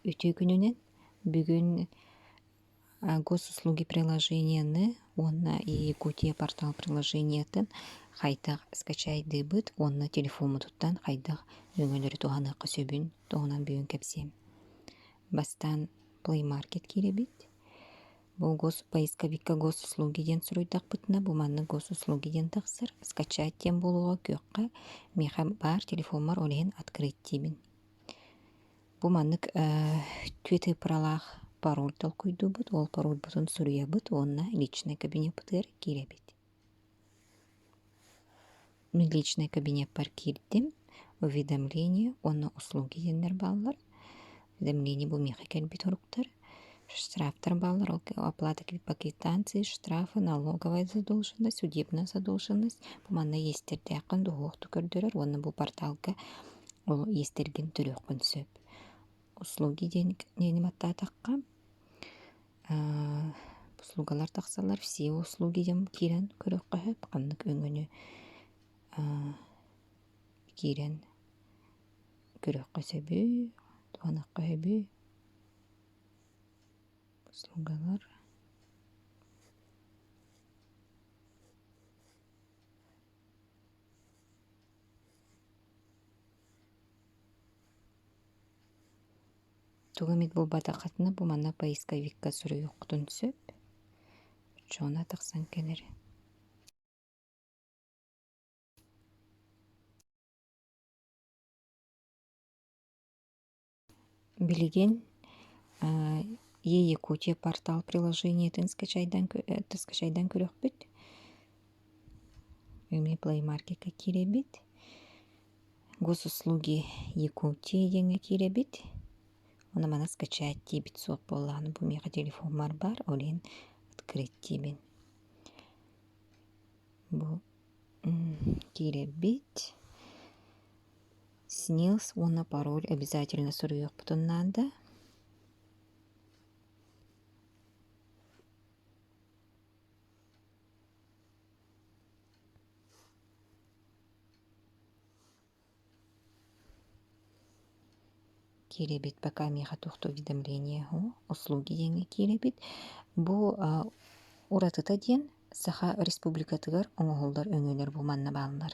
Үтүөкүнүнэн бүгүн Госуслуги приложениены уонна Якутия портал приложениетын хайдах скачайдыыбыт уонна телефоммутуттан хайдах өҥөлөрү туһаныахха сөбүн туһунан бүгүн кэпсиэм. Бастаан плеймаркет киирэбит бу поисковикка госуслуги диэн суруйдахпытына бу манна госуслуги диэн тахсар скачать диэн буолуоҕа күөххэ миэхэ баар телефоммар ол иһин открыть диибин бу маннык твиттыпыралаах пароль толкуйдуубут ол паролбутун суруйабыт уонна личнэй кабинеппытыгар киирэбит личнэй кабинеппар киирдим уведомление уонна услуги диэннэр бааллар уведомление бу миэхэ кэлбит соруктар штрафтар бааллар ол оплата квитанции штрафы налоговая задолженность судебная задолженность бу манна иэстэрдээххин доһуохту көрдөрөр уонна бу порталга ол иэстэргин төлүөххүн сөп услуги диэн баттаатахха услугалар тахсаллар все услуги дьон киирэн көрүөххэ сөп ханнык өҥөнү киирэн көрүөххэ сөбүй туһаныахха сөбүй услугалар тугу эмит буолбатаххытына бу манна поисковикка суруйуоххутун сөп оччоҕуна тахсан кэлэр билигин яекутия портал приложениетын скачайдан скачайдан көрөхпүт эмиэ плей маркетка киирэбит госуслуги якутии диэҥҥэ киирэбит уонна маны скачать диэбит суох буоллаҕына бу миэхэ телефоммар баар ол иһин открыть диибин бу киирэрбит снилс уонна пароль обязательно суруйуохпутун наада киирэбит пока миэхэ туох туох уведомления уһу услуги диэҥҥэ киирэбит бу уратыта диэн саха республикатыгар оҥоһуллар өҥөлөр бу манна бааллар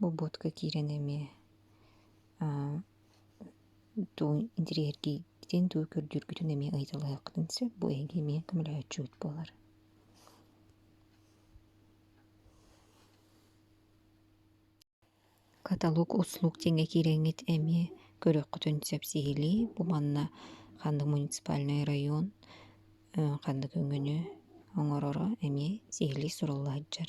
Бобуотка киирэн эмиэ туу интириэһиргиитин, туу көрдүүргүтүн эмиэ ыйыталаһыаххытын сөп. Бу эһиги эмиэ көмөлөһөөччүгүт буолар. Каталог услуг диэҥҥэ киирэҥҥит эмиэ көрүөххүтүн сөп сиһилии. Бу манна ханнык муниципальнай район ханнык өҥөнү оҥороро эмиэ сиһилии сурулла сылдьар.